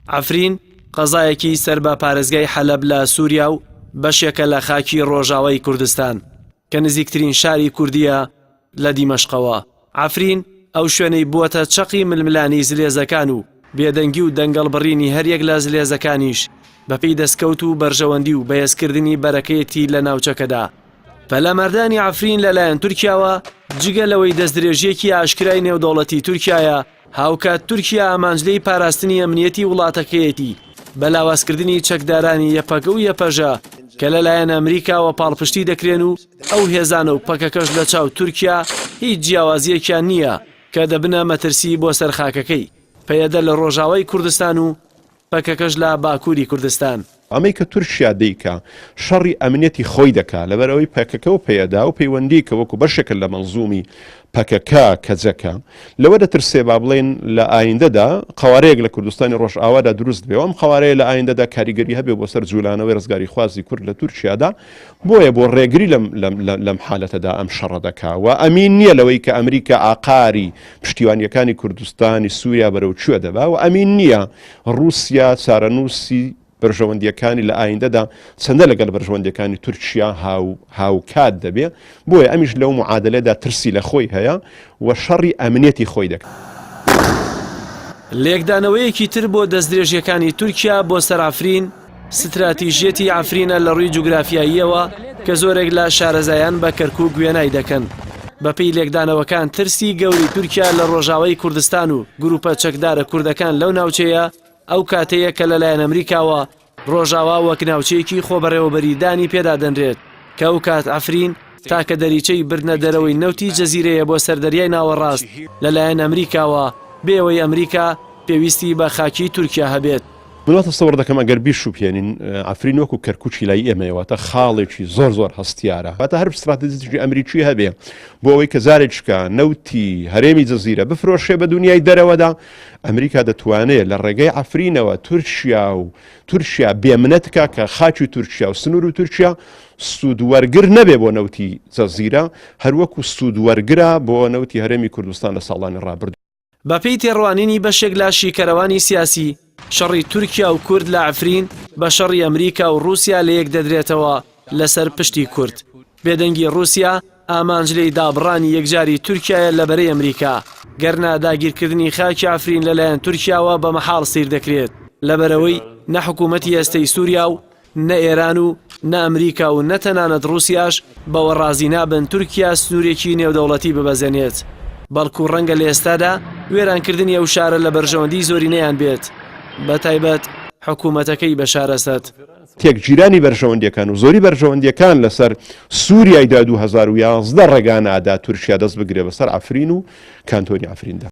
عەفرین قەزایەکی سەر بە پارێزگای حەلەب لە سووریا و بەشێکە لە خاکی ڕۆژاوای کوردستان کە نزیکترین شاری کوردیە لە دیمەشقەوە عفرین ئەو شوێنەی بووەتە چەقی ململانی زلێزەکان و بێدەنگی و دەنگەڵ بڕینی هەریەک لە زلێزەکانیش بەپی دەستکەوت و بەرژەوەندی و بەهێزکردنی بەرەکەیەتی لە ناوچەکەدا پەلاماردانی عەفرین لەلایەن تورکیاوە جگە لەوەی دەستدرێژیەکی ئاشکرای نێودەوڵەتی تورکایە هاوکات تورکیا ئامانجلەی پاراستنی ئەمنیەتی وڵاتەکەیەتی بە لاوازکردنی چەکدارانی یەپەگە و یەپەژە کە لەلایەن ئەمریکاوە پاڵپشتی دەکرێن و ئەو هێزانە و پەکەکەش لە چاو تورکیا هیچ جیاوازیەکیان نییە کە دەبنە مەترسی بۆ سەر خاکەکەی پەیەدە لە ڕۆژاوای کوردستان و پەکەکەش لە باکووری کوردستان. ئەمەی کە تورکیا دەیکا شەڕی ئەمنیەتی خۆی دەکا لەبەرئەوەی پەکەکە و پەیەدە و پەیوەندی کە وەکو بەشێکە لە مەنزومی پەکەکە کەجەکە لەوە دەترسێ با بڵێین لە ئایندەدا قەوارەیەک لە کوردستانی ڕۆژئاوادا دروست بێ و ئەم قەوارەیە لە ئایندەدا کاریگەری هەبێ بۆ سەر جولانەوەی ڕزگاریخوازی کورد لە تورکیادا بۆیە بۆ ڕێگری لەم حالەتەدا ئەم شەڕە دەکا و ئەمین نییە لەوەی کە ئەمریکا ئاقاری پشتیوانیەکانی کوردستانی سووریا بەرەو کوێ دەبا و ئەمین نییە ڕوسیا چارەنووسی بەرژەوەندیەکانی لە ئایندەدا چەندە لەگەل بەرژەوەندەکانی تورکیا هاو هاوکات دەبێ بۆیە ئەمیش لەو معادلەدا ترسی لە خۆی هەیە و شەڕی ئەمنێتی خۆی دەکات. لێکدانەوەیەکی تر بۆ دەستدرێژیەکانی تورکیا بۆ سەرافرین، ستراتیژیەتی عەفرینە لە ڕووی جوگرافیاییەوە کە زۆرێک لە شارەزایان بە کەرکووک وێنای دەکەن. بەپێی لێکدانەوەکان ترسی گەورەی تورکیا لە ڕۆژاوای کوردستان و گرووپە چەکدارە کوردەکان لەو ناوچەیە ئەو کاتەیە کە لەلایەن ئەمریکاوە ڕۆژاوا وەک ناوچەیەکی خۆبەڕێوەبەری دانی پێدا دەنرێت کە ئەو کات عەفرین تاکە دەریچەی بردنە دەرەوەی نەوتی جەزیرەیە بۆ سەر دەریای ناوەڕاست لەلایەن ئەمریکاوە بێ ئەوەی ئەمریکا پێویستی بە خاکی تورکیا هەبێت. من وا تەسەوەڕ دەکەم ئەگەر بیشوبهێنین عەفرین وەکو کەرکوچی لای ئێمەیە واتە خاڵێکی زۆر زۆر هەستیارە هەتا هەر ستراتژیکی ئەمریکی هەبێ بۆ ئەوەی کە زارێکشکە نەوتی هەرێمی جززیرە بفرۆشێ بە دنیای دەرەوەدا ئەمریکا دەتوانێت لە ڕێگەی ئەفرینەوە تورکیا و تورکیا بێمنەتکە کە خاچی تورکیا و سنوور و تورکیا سوودوەرگر نەبێ بۆ نەوتی جەززیرە هەروەکو سوودوەرگرا بۆ نەوتی هەرێمی کوردستان لە ساڵانی ڕابرد بەپێی تێڕوانینی بەشێک لە شیکەرەوانی سیاسی، شەڕی تورکیا و کورد لە عەفرین بە شەڕی ئەمریکا و ڕووسیا لە یەک دەدرێتەوە لەسەر پشتی کورد. بێدەنگی ڕووسیا ئامانج لێی دابڕانی یەکجاری تورکیایە لە بەرەی ئەمریکا، گەرنا داگیرکردنی خاکی عەفرین لەلایەن تورکیاوە بە مەحاڵ سەیر دەکرێت، لەبەرئەوەی نە حکوومەتی ئێستەی سووریا و نە ئێران و نە ئەمریکا و نە تەنانەت ڕووسیاش بەوە ڕازی نابن تورکیا سنوورێکی نێودەوڵەتی ببەزێنێت، بەڵکو ڕەنگە لە ئێستادا وێرانکردنی ئەو شارە لە بەرژەوەندیی زۆرینەیان بێت، بەتایبەت حکوومەتەکەی بەشار ئەسەد. تێکگیرانی بەرژەوەندییەکان و زۆری بەرژەوەندییەکان لەسەر سووریای دوای دوو هەزار و یازدە ڕێگا نادات تورکیا دەست بگرێت بەسەر عەفرین و کانتۆنی عەفریندا.